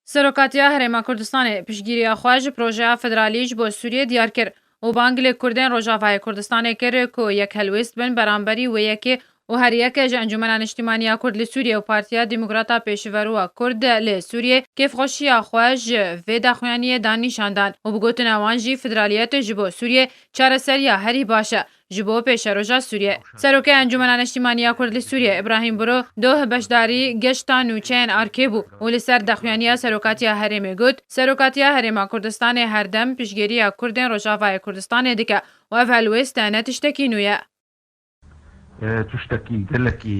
Serokatiya Herêma Kurdistanê piştgiriya xwe ji projeya federalî ji bo Sûriyê diyar kir û bang li Kurdên Rojavayê Kurdistanê kir ku yek helwêst bin beramberî wê yekê û her yeke ji Encûmena Niştîmaniya Kurd li Sûriyê û Partiya Demokrata Pêşiveroa Kurd li Sûriyê kêfxweşiya xwe ji vê daxuyaniyê da nîşan dan û bi gotine wan jî federaliyetê ji bo Sûriyê çareseriya herî baş e Ji bo pêşeroja Sûriyê, Serokê Encûmena Neştîmanî ya Kurd li Sûriyê Îbrahîm Buro doh beşdarî geşta nûçeyên Arkê bû û li ser daxuyaniya Serokatiya Herêmê got, Serokatiya Herêma Kurdistanê her dem piştgiriya Kurdên Rojavayê Kurdistanê dike û ev helwêste ne tiştekî nû ye. Tiştekî gelekî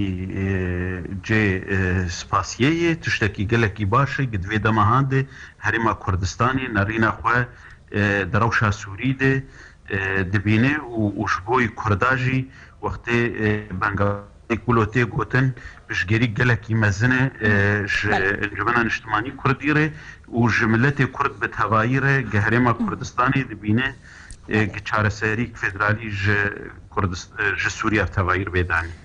cê spasiyê ye, tiştekî gelekî baş e ku di vê dema de Herêma Kurdistanê nerîna xwe di rewşa Sûrî de dibîne û ji bo Kurda jî wextê Bengalî kulo tê gotin piştgirî gelekî mezin e ji Encumena Niştimanî Kurdî re û ji miletê Kurd bi tevayî re gi herêma Kurdistanê dibîne gi çareserîyek federalî ji Sûriya tevayî bê danîn.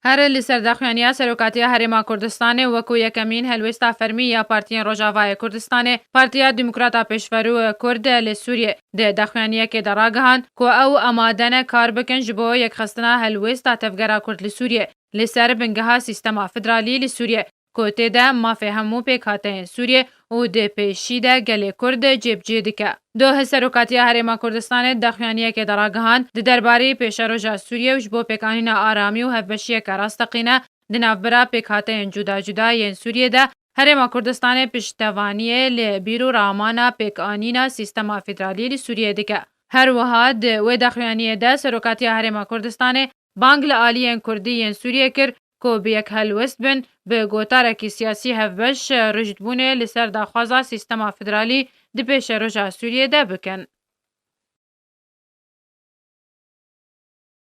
Herî li ser daxuyaniya Serokatiya Herêma Kurdistanê wekû yekemîn helwêsta fermî ya partiyên Rojavayê Kurdistanê, Partiya Demokrata Pêşverû, kurd, li Sûriyê, di daxuyaniyekê de ragihand ku ew amade ne kar bikin ji bo yekxistina helwêsta tevgera kurd li Sûriyê li ser bingeha sîstema federalî li Sûriyê. ku tê de mafê hemû pêkhateyên Sûriyê û di pêşî de gelê Kurd cêbicê dike. Duh Serokatiya Herêma Kurdistanê daxuyaniyekê de ragihand, di derbarî pêşeroja Sûriyê û ji bo pêkanîna aramî û hevbeşiyeke rasteqîne di navbera pêkhateyên cuda cuda yên Sûriyê de, Herêma Kurdistanê piştevaniyê li bîr û ramana pêkanîna sîstema federalî li Sûriyê dike. Her wiha di wê daxuyaniyê de Serokatiya Herêma Kurdistanê bang li aliyên Kurdî yên Sûriyê kir ku bi yek helwest bin, bi gotarekî siyasî hevbeş rûjdbûnê li ser daxwaza sîstema federalî di pêşeroja Sûriyê de bikin.